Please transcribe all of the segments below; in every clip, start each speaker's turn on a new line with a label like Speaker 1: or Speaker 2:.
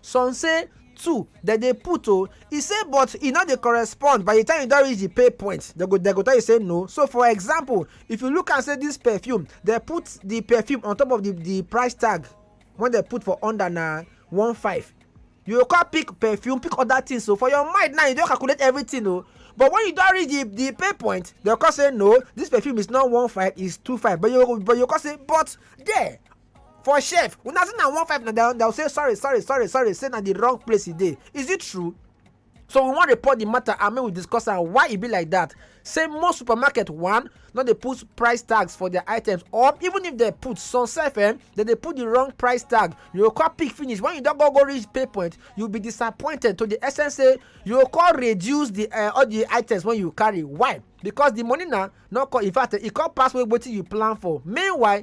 Speaker 1: Some say two dem dey put o. E say but e no dey correspond by the time you don reach the pay point dem go dem go tell you say no. So for example if you look am say this perfume dem put the perfume on top of the the price tag wey dem put for under na one five you go come pick perfume pick other things so for your mind now you don calculate everything o but when you don reach the the pay point dem go come say no this perfume is not one five is two five but you but you go come say but there for chef una say na one five na dem dem say sorry sorry sorry sorry say na the wrong place e dey is it true so we wan report the matter and make we discuss am why e be like that say most supermarket one no dey put price tags for their items or even if dem put some sef eh dem dey put the wrong price tag you go come pick finish when you don go go reach pay point you be disappointed to the extent say you go come reduce the uh, all the items wey you carry why because the money na no come in fact e come pass wetin you plan for meanwhile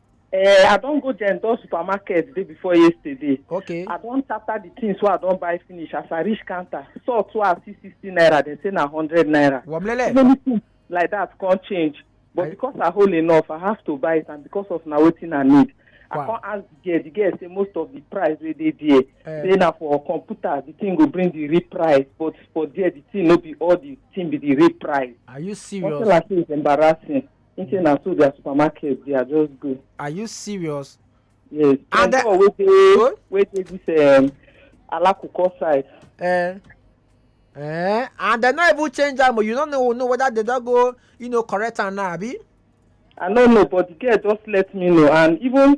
Speaker 1: Eh, I don go there door supermarket day before yesterday. Okay. I don tata the things wey I don buy finish as I reach counter. Salt wey I see sixty naira, dem say na hundred naira. Wamlele. Many things like that come change. But I- because I hold enough, I have to buy it and because of na wetin I need. I Wow. come ask the girl, the girl say most of the price wey dey there, Eh. say na for computer, the thing go bring the real price, but for there, the thing no be all the thing be the real price. Are you Nothing serious? like this is embarrassing. think say na so their supermarket dey i just go are you serious yes And and the- the one wey dey Good. wey dey this um, alakuko side eh eh and dem no even change am o you no know know whether dem don go you know correct am now abi i no know but the girl just let me know and even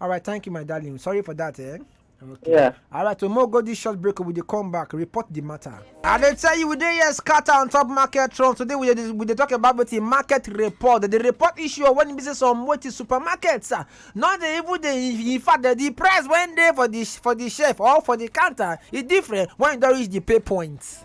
Speaker 1: All right, thank you, my darling. Sorry for that, eh? Okay. Yeah. All right, so more go this short break. We dey come back, report the matter. I dey tell you, we dey here scatter on top market trend. Today we dey we dey talk about wetin market report. They dey report issue of when business on wetin supermarkets. ah, No dey even dey in fact the, the price when dey for the for the shelf or for the counter e different when e don reach the pay point.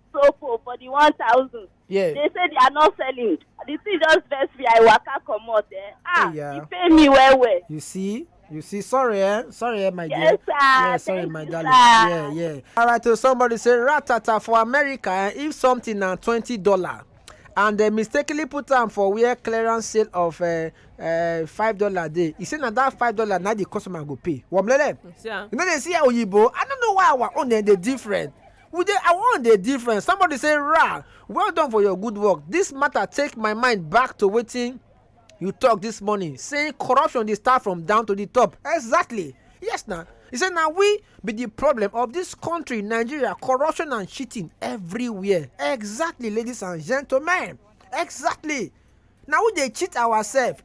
Speaker 1: Sopo for the one thousand. Yeah. They say they are not selling. The thing just vex me. I waka comot. Eh? Ah, yeah. you pay me well well. You see. You see, sorry, eh? Sorry, eh, my yes, dear. Sir. Yeah, sorry, Thank my you, darling. Sir. Yeah, yeah. All right, so somebody say ratata for America. Eh? If something na twenty dollar, and they mistakenly put am for where clearance sale of uh, uh, five dollar dey e say na that five dollar na the customer go pay womlele you no dey see oyibo i no know why our own dey different We dey I wan dey different. Somebody say rah, well done for your good work. This matter take my mind back to wetin you talk this morning saying corruption dey start from down to the top. Exactly. Yes na. He say na we be the problem of this country Nigeria corruption and cheating everywhere. Exactly ladies and gentlemen. Exactly. na we dey cheat ourselves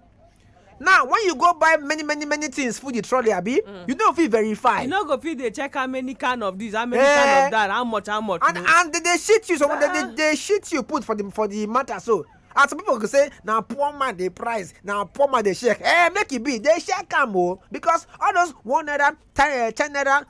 Speaker 1: now when you go buy many many many things full the trolley abi mm. you no fit verify you no go fit dey check how many can of this how many eh, can of that how much how much and and they dey shit you so they dey dey shit you put for the for the matter so as some people go say na poor man dey price na poor man dey shake eh make e be dey shake am o oh. because all those one naira ten eh, naira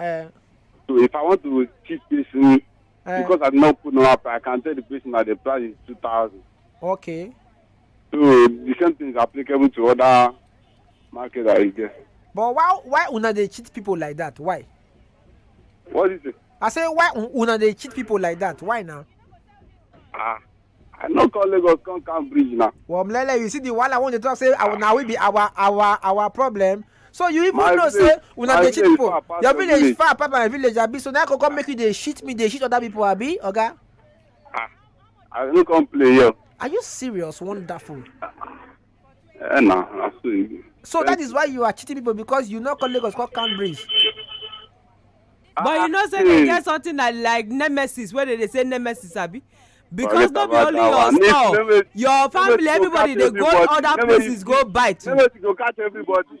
Speaker 1: Eh, So if I want to cheat person, eh, because I did not put normal price, I can tell the person that the price is 2000. okay. So the same thing is applicable to other market that is there. But why why una dey cheat people like that? Why? What is it? I say why un- una dey cheat people like that? Why now? Ah, I no come Lagos come calm bridge now. Well, Mlele, you see the one I want to talk say our, now we be our our our problem. So you even my know village, say una dey cheat people. Your village, village is far apart my village abi so now I go come make you dey shit me dey shit other people abi oga. Okay? Ah, I no come play here. Are you serious? Wonderful. Eh, na, na so e be. so that is why you are cheating people because you no call lagos call calm breeze. but you know say Ah, dem get hmm. something like like nemesis wey dem dey say nemesis abi because no be only your store your family everybody dey go other places go buy too. nemesis go catch everybody.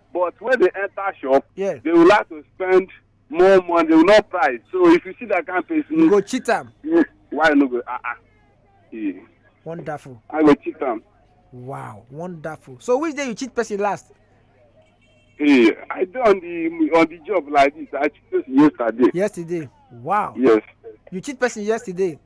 Speaker 1: but when they enter shop yes they will like to spend more money they will not price so if you see that kind of person you go cheat am you why you no go ah ah yeah. wonderful i go cheat am wow wonderful so which day you cheat person last yeah i dey on the on the job like this i cheat person yesterday yesterday wow yes you cheat person yesterday